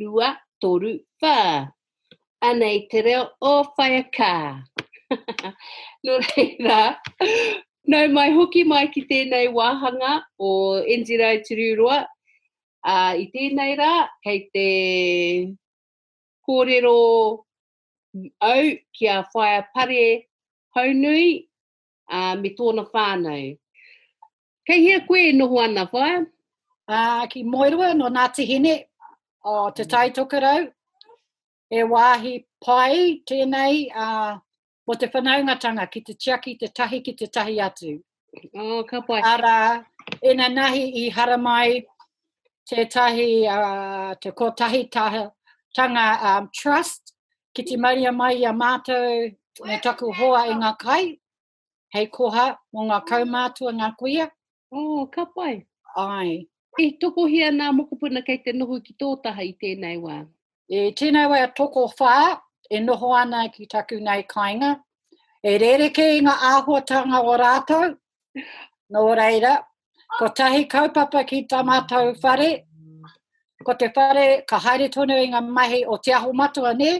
rua, toru, whā. Anei te reo o Whaea Kā. no reira, nau mai hoki mai ki tēnei wāhanga o Enjirau Turiuroa. A, I tēnei rā, kei te kōrero au ki a Whaea Pare Haunui, ā, me tōna whānau. Kei hea koe e noho ana, whaea? Ā, ki Moerua, nō Ngāti Hine, o Te Tai Tokerau, he wāhi pai tēnei ā, mō te whanaungatanga ki te tiaki te tahi ki te tahi atu. Oh, ka pai. Arā, ina nahi i haramai tētahi, uh, te kotahi taha, tanga um, trust Ki te maria mai i a mātou me taku hoa i ngā kai, hei koha mō ngā kaumātua, ngā kuia. Oh, ka pai. Ai. I tokohia nā mokopuna kei te noho ki tō taha i tēnei wā? I tēnei wā tokowhā e noho ana ki taku nei kāinga. E rerekē i ngā āhuatanga o rātou, Nō reira, ko tahi kaupapa ki tā mātou whare, ko te whare ka haere tonu i ngā mahi o Te Aho Matua, nē,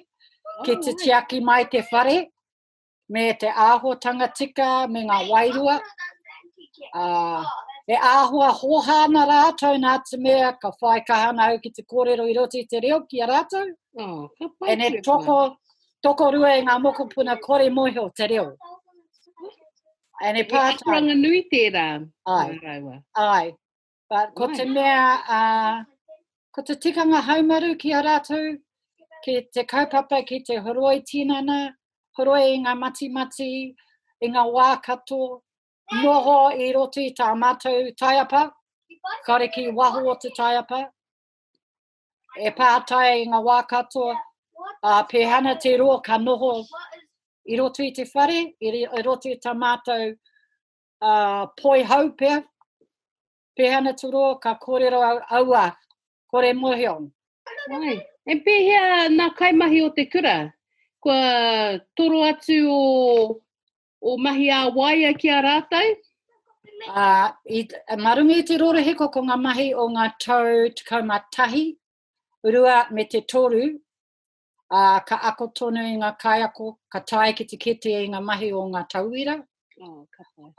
ki te tiaki mai te whare, me te āhuatanga tika, me ngā wairua. Uh, e āhua hoha ana rātou nā te mea ka whai kahana au ki te kōrero i roti te reo ki a rātou. Oh, e ne toko, toko rua e ngā mokopuna kore mohi o te reo. And e pātai. He akoranga nui tērā. Ai. Rāua. Ai. But ko te mea, uh, ko te tikanga haumaru ki a rātou, ki te kaupapa, ki te horoi tinana, horoi i ngā matimati, i ngā wā kato, noho i roti tā mātou taiapa, kare ki waho o te taiapa, e pātai i ngā wā katoa, ā, pēhana te roa ka noho i roto i te whare, i, i roto i tā mātou ā, poi hau pea, pēhana te roa ka kōrero au, aua, kore mohio. Ai, e pēhea nā kaimahi o te kura, kua toro atu o o mahi ā waia ki a rātou. Ā, i, mā runga i te rorohiko ko ngā mahi o ngā tau tekau mā tahi, rua me te toru, ā, ka ako tonu i ngā kaiako, ka tae ki te kete i ngā mahi o ngā tauira. Oh,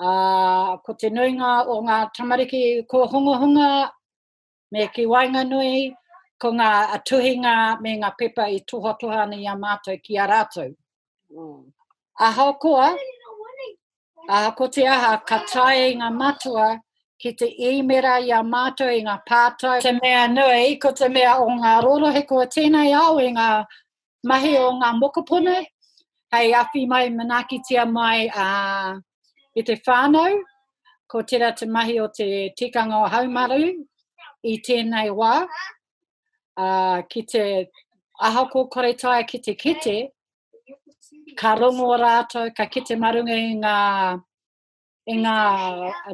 ā, ko te nuinga o ngā tamariki kōhungahunga Me ki waenganui, ko ngā tuhinga me ngā pepa i tohatoha ana i a mātou ki a rātou. Mm. Ahakoa, aha ko te aha, ka tae ngā matua ki te īmera i a mātou i ngā pātai. Te mea nui, ko te mea o ngā rorohiko tēnei ao i ngā mahi o ngā mokopuna, hei awhi mai, manaakitia mai a, i te whānau, ko tērā te mahi o te tikanga o Haumaru i tēnei wā, a, ki te aha ko kore tae ki te kete, ka rongo rātou, ka kete marunga i ngā e ngā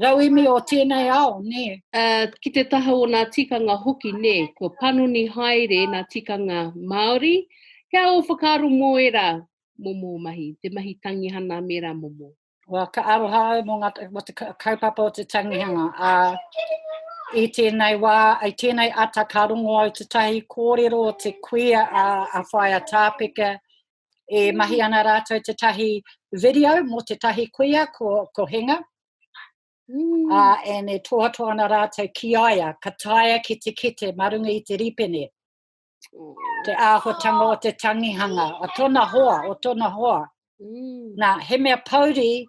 rauemi o tēnei ao, nē. Uh, ki te taha o ngā tikanga hoki, nē, kua panoni haere nā tikanga Māori. Kia o whakaaro mō era momo mahi, te mahi tangihana me rā momo? Well, ka aroha au mō ngā, mō te kaupapa o te tangihanga. Uh, i tēnei wā, i tēnei ata ka rongo au tētahi kōrero o te kuia a, a Whaia Tāpeka, E mm. mahi ana rātou te tahi video mō te tahi kuia ko, ko Henga. Mm. Uh, and e tōhatoa ana rātou ki aia, ka taia ki te kete marunga i te ripene. Mm. Te āhotanga o te tangihanga, o tona hoa, o tona hoa. Mm. Nā, he mea pauri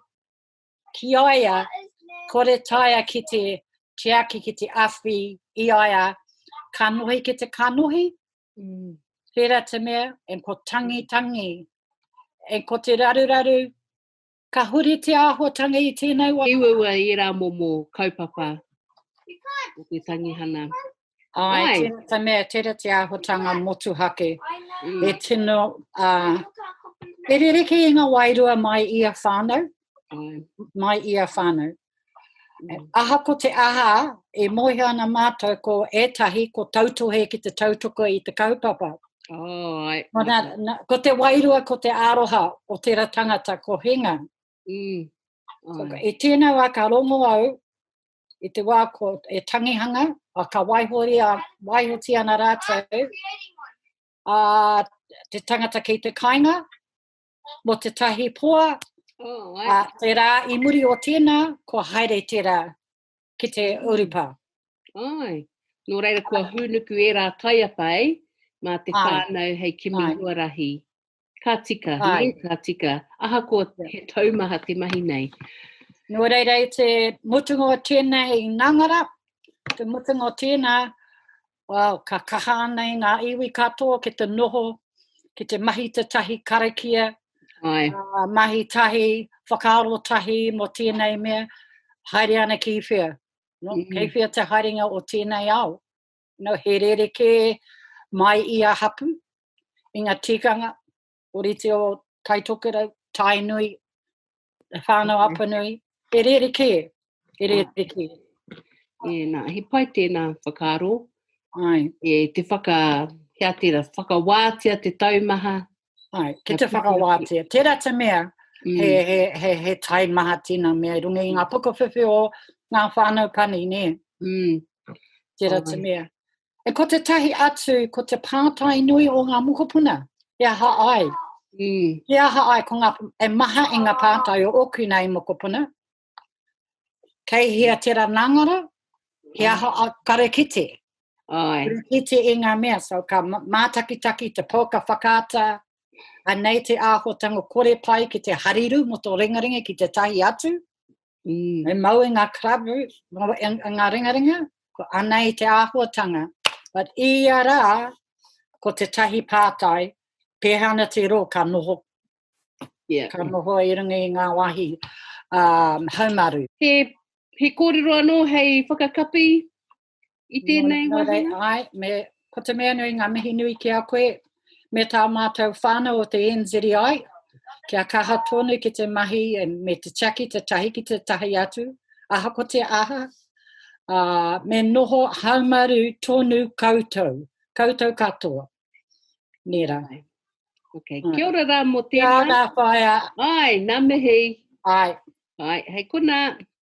ki aia, kore taia ki te tiaki ki te awhi i aia, ka nohi ki te kanohi, Mm. Tērā te mea, e ko tangi tangi, e ko te raruraru, ka huri te āhuatanga i tēnei wā. I waua i ērā momo kaupapa o te tangihana. Ai, Ai. tērā te mea, tērā te āhuatanga motuhake. Mm. E tino, uh, e rereke i ngā wairua mai i a whānau, uh, mai i a whānau. Mm. Aha ko te aha e mohi ana mātou ko ētahi ko tautohe ki te tautoko i te kaupapa. Oh, ai. Ko, na, na, ko te wairua, ko te aroha o tera tangata, ko hinga. Mm. Oh. So, e tēnā wā ka rongo au i te wā ko e tangihanga, a ka waihori a waihoti ana rātou a te tangata kei te kainga, mō te tahi poa, oh, a, tērā i muri o tēnā, kua haere tērā ki te urupa. Ai, nō reira kua hūnuku e rā taiapa, ei, mā te whānau hei kimi huarahi. Ka tika, nei, ka tika. Aha ko he taumaha te mahi nei. Nō reira i te mutunga o tēnā i Nangara, te mutunga o tēnā, Wow, ka kaha ana i ngā iwi katoa ki te noho, ki te mahi te tahi karakia, Ai. Uh, mahi tahi, whakaaro tahi mo tēnei mea, haere ana ki whea. No, mm. Kei whea te haerenga o tēnei ao. No, he rere kē mai i a hapu, i ngā tikanga, orite o Taitokerau, Tainui, Whānau mm-hmm. Apanui, e rere kē, e rere ah. kē. E, nā, he pai tēnā whakaro. Ai. E te whaka, hea tēra, whakawātia te taumaha. Ai, ki te whakawātia. Tērā te mea, mm. he, he, he, he taimaha tina mea, runga i ngā pukawhiwhi o ngā whānau pani, nē. Mm. Tērā te mea. E ko te tahi atu, ko te pātai nui o ngā mokopuna, he aha ai? Mm. He aha ai, ko ngā, e maha i ngā pātai o oku nei mokopuna, kei hea te ranangara, he aha a karekiti? Ai. Karekiti i ngā mea, so ka mātakitaki te pō, ka whakaata, anei te āhotanga kore pai ki te hariru mo tō ringaringa ki te tahi atu, Mm. Me mau e ngā club roots, e ngā ringaringa, ko anei te āhuatanga. But i a rā, ko te tahi pātai, pēhea ana te rō ka noho. Yeah. Ka noho i runga i ngā wahi um, haumaru. He, he kōrero anō hei whakakapi I tēnei wāhanga? Nō rei, nō rei, ai, me, ko te mea nui ngā mihi nui ki a koe, me tā mātou whānau o te NZEI, kia kaha tonu ki te mahi e, me te tiaki te tahi ki te tahi atu, aha ko te aha, uh, me noho haumaru tonu koutou, koutou katoa. Nera. Okay. Kia ora rā mō tēnā. Kia ora whaia. Ai, nā mihi. Ai. Ai, hei kuna.